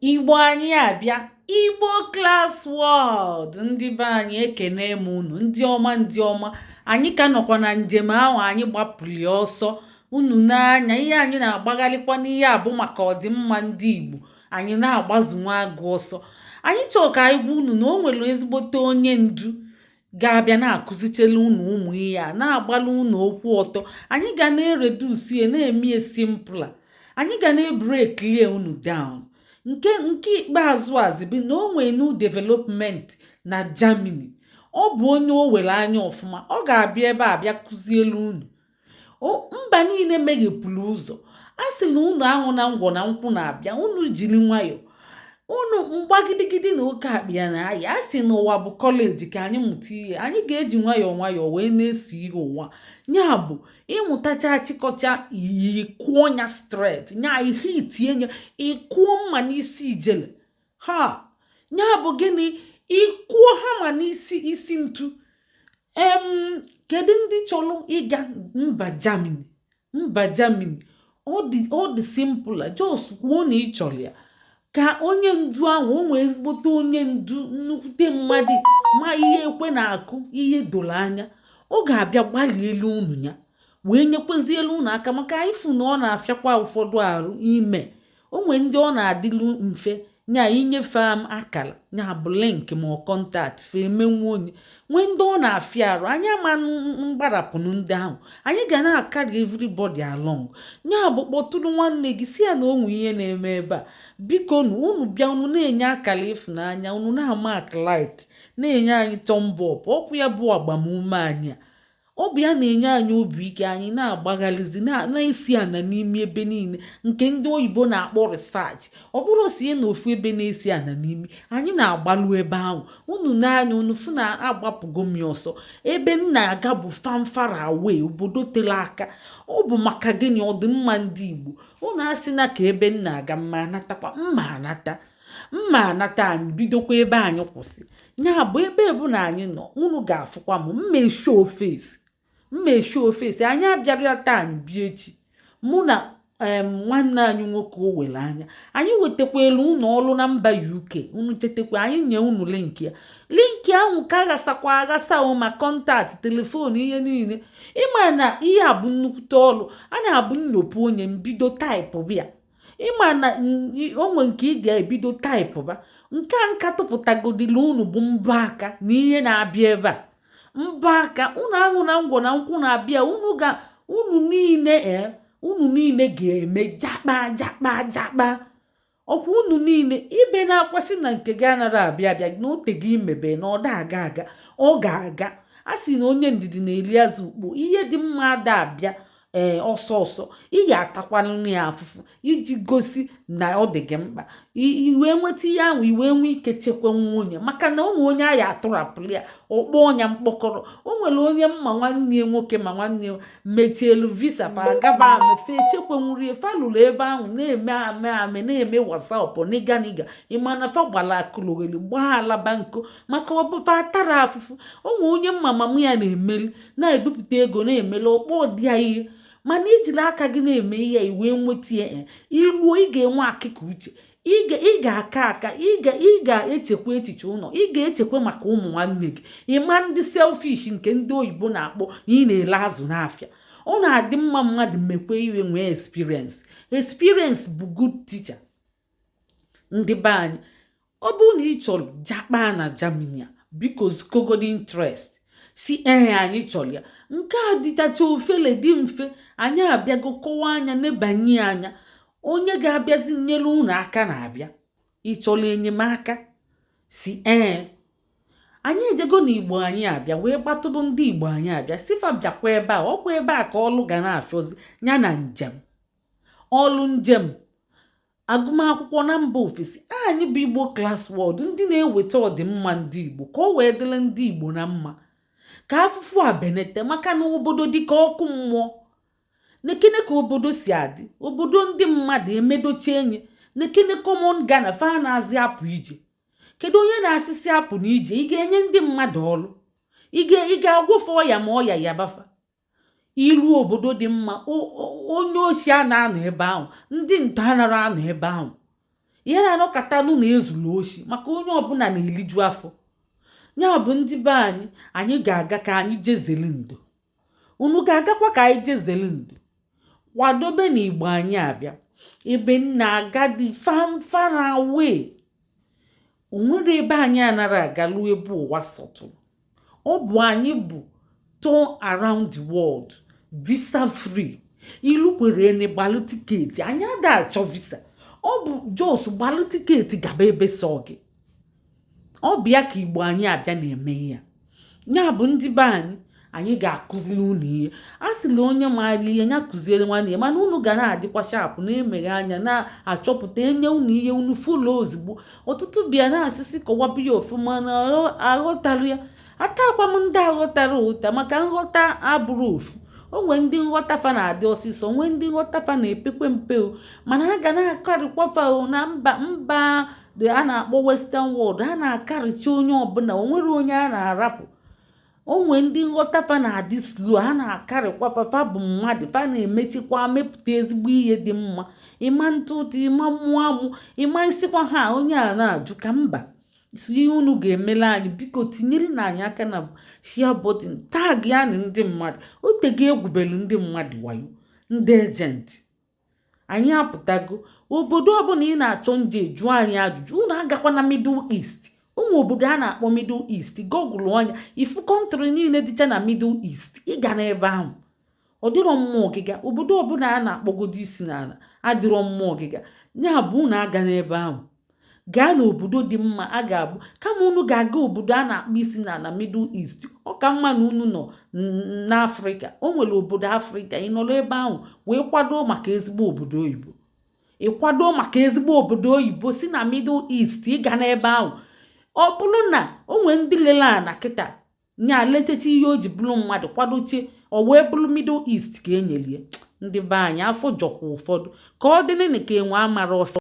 Igbo anyị abịa Igbo Class World ndị be anyị ekene m unu ndị ọma ndị ọma anyị ka nọkwa na njem ahụ anyị gbapụli ọsọ unu na-anya ihe anyị na-agbagharịkwa n'ihe a bụ maka ọdịmma ndị Igbo anyị na-agbazu nwa agụ ọsọ anyị chọọ ka anyị gwa unu na o nwere ezigbote onye ndu ga-abịa na-akụzichele unu ụmụ ihe a na-agbalụ unu okwu ọtọ anyị ga na-eredusi ya na-eme ya simpla anyị ga na-ebreklie unu down nke nke ikpeazụ azị bụ na o nwee new development na Germany ọ bụ onye o were anya ọfụma ọ ga-abịa ebe a bịa kụzielu unu mba niile meghepụrụ ụzọ a sị na unu ahụ na ngwọ na nkwụ na-abịa unu jiri nwayọọ unu mgbagidigidi na oke akpa ya na aya a sị na ụwa bụ kọleji ka anyị mụta ihe anyị ga-eji nwayọọ nwayọọ wee na-eso ihe ụwa ya bụ ị mụtacha achịkọcha ị kụọ nya straight nya ị hitie nya ị kụọ mma n'isi ijele ha ya bụ gịnị ị kụọ hama n'isi isi ntu em kedu ndị chọrọ ịga mba Germany mba Germany ọ dị simple just kwuo na ị chọrọ ya ka onye ndu ahụ o nwee ezigbote onye ndu nnukwute mmadụ ma ihe ekwe na-akụ ihe doro anya ọ ga-abịa gbalielu unu nya wee nyekwazielu unu aka maka ị fụ na ọ na-afịakwa ụfọdụ arụ ime o nwee ndị ọ na-adịlu mfe nya i nye fa em akara nya bụ link ma ọ contact fa emenwuo nya nwee ndị ọ na-afịa arụ anyị ama mgbarapụnụ ndị ahụ anyị ga na-akarị everybody along nya bụ kpọtụrụ nwanne gị sị ya na o nwe ihe na-eme ebe a bikonu unu bịa unu na-enye akara ịfụnanya unu na-ama like na-enye anyị thumb up ọ kwa ya bụ agbamume anyị a ọ bụ ya na-enye anyị obi ike anyị na-agbagharịzi na-esi ana n'imi ebe niile nke ndị oyibo na-akpọ research ọ bụrụ si na ofu ebe na-esi ana n'imi anyị na-agbalụ ebe ahụ unu na-anya unu fụ na agbapụgo m ọsọ ebe m na-aga bụ far far away obodo tere aka ọ bụ maka gịnị ọdịmma ndị igbo unu asịna ka ebe m na-aga m ma anatakwa m ma anata m ma anata anyị bidokwa ebe anyị kwụsị ya bụ ebe ọbụna anyị nọ unu ga-afụkwa m mma eshi ofesi mma eshi ofesi anyị abịara taa anyị bịa echi mụ na nwanne anyị nwoke o were anya anyị wetakwalu unu ọrụ na mba UK unu chetakwa anyị nye unu linki ya linki ahụ ka aghasakwa aghasa o ma contact telefon ihe niile ị ma na ihe a bụ nnukwute ọrụ a na-abụ nnopu onye mbido taịpụ bịa ị ma na o nwe nke ị ga-ebido taịpụba nke a m ka tụpụtagodili unu bụ mbọ aka na ihe na-abịa ebe a mbọ aka unu aṅụna ngwọ na nkwụ na-abịa unu ga unu niile e, unu niile ga-eme jakpa jakpa jakpa ọkwa unu niile ibe na-akwa sị na nke gị anara abịa abịa na ote gị imebe na ọ da aga aga ọ ga-aga a sị na onye ndidi na-eli azụ ukpo ihe dị mma ada abịa ee ọsọ ọsọ ị ga-atakwanụrụ ya afụfụ iji gosi na ọ dị gị mkpa i wee nweta ihe ahụ i wee nwee ike chekwanwuo ya maka na o nwe onye a ya-atụrapụrụ ya okpo ọnya mkpọkọrọ o nwere onye ma nwanne ya nwoke ma nwanne ya mecheelu visa fa gaba ama fe echekwanwuri ihe fa lụrụ ebe ahụ na-eme ame ame na-eme what's up nigga nigga ị mana fa gbara akalogheli gbaa alabanko maka ọ bụ fa tara afụfụ o nwe onye ma mama ya na-emeli na-ebupụta ego na-emeli okpo dị ya ihe mana i jiri aka gị na-eme ihe i wee nweta ya eh, i ruo ị ga-enwe akịka uche ị ga-aka aka ị ga-echekwa echiche ụlọ ị ga-echekwa maka ụmụ nwanne gị ị ma-adị selfish nke ndị oyibo na-akpọ ị na-ele azụ n'afịa ọ na-adị mma mmadụ mekwa ihe nwee experience experience bụ good teacher ndị be anyị ọ bụrụ na ị chọrọ jakpa na Germany a biko zikwagodi interest sị ee anyị chọrọ ya nke a dịchacha ofele dị mfe anyị abịago kọwa ya nebanye anya onye ga-abịazi nyere unu aka na-abịa ị chọrọ enyemaka sị ee anyị ejego na igbo anyị abịa wee kpọtụrụ ndị igbo anyị abịa sị fa bịakwa ebe a ọkwa ebe a ka ọlụ ga na-achọzi ya na njem ọlụ njem agụmakwụkwọ na mba ofesi anyị bụ igbo class world ndị na-eweta ọdịmma ndị igbo ka o wee dịrị ndị igbo na mma ka afụfụ a benete maka na obodo dị ka ọkụ mmụọ nekene ka obodo si adị obodo ndị mmadụ emedochi enyi nekene common Ghana fa anazị apụ ije kedu onye na-asị sị apụna ije ị ga-enye ndị mmadụ ọrụ ị ga-agwọ fa ọya ma ọya yaba fa i ruo obodo dị mma onye oshi ana anọ ebe ahụ ndị ntọ anara anọ ebe ahụ ihe na-anọkatanụ na-ezuru oshi maka onye ọbụla na-eliju afọ ya bụ ndị be anyị anyị ga-aga ka anyị je zere ndo unu ga-agakwa ka anyị je zere ndo kwadobe na igbo anyị abịa ebe a na-aga dị far far away o nwere ebe anyị anara aga ruo ebe ụwa sọtụrụ ọ bụ anyị bụ tour around the world visa free ilu kwere ene gbalụ tiketi anyị ada achọ visa ọ bụ just gbalụ tiketi gaba ebe sọ gị ọ bụ ya ka igbo anyị abịa na-eme here nya bụ ndị be anyị anyị ga-akụzili unu ihe a sị na onye maara ihe ya kụziere nwanne ya mana unu ga na-adịkwa sharp na-emeghe anya na-achọpụta e nye unu ihe unu fụlụ ozugbo ọtụtụ bịa na-asị sị kọwaba ya ọfụma na aghọtarọ ya ataakwa m ndị aghọtarọ ụta maka nghọta abụrọ ofu o nwere ndị nghọta fa na-adị ọsịsọ o nwere ndị nghọta fa na-epekwe mpe o mana a ga na-akarịkwa fa o na mba ndị a na-akpọ western world a na-akarịcha onye ọbụla o nwerọ onye a na-arapụ o nwe ndị nghọta fa na-adị slow a na-akarịkwa fa fa bụ mmadụ fa na-emechikwa mepụta ezigbo ihe dị mma ịma ntụ ụtụ ịma mmụọ amụ ịma isikwa ha onye a na-ajụ ka mba so ihe unu ga-emele anyị biko tinyerenụ anyị aka na share button taagịanụ ndị mmadụ o tego e gwubelu ndị mmadụ wayo ndị ejenti anyị apụtago obodo ọbụla ị na-achọ nje jụọ anyị ajụjụ unu agakwana middle east ụmụ obodo a na-akpọ middle east gọgụlụọ nya ị fụ country niile dịcha na middle east ịga n'ebe ahụ ọ dịrọ mma ọgịga obodo ọbụla a na-akpọgodo isi n'ana adịrọ mma ọgịga ya bụ unu agana ebe ahụ gaa n'obodo dị mma a ga-abụ kama unu ga-aga obodo a na-akpọ isi ana na middle east ọ ka mma na unu nọ n'afrịka o nwere obodo afrịka ị nọrọ ebe ahụ wee kwado maka ezigbo obodo oyibo ị kwado maka ezigbo obodo oyibo si na middle east ị ga n'ebe ahụ ọ bụrụ na o nwere ndị lele ana kịta nya letecha ihe o ji bụrụ mmadụ kwadochaa ọ wee bụrụ middle east ka e nyeli ya ndị be anyị afọ jọkwa ụfọdụ ka ọ dịnịnị ka enwe amara ọfịa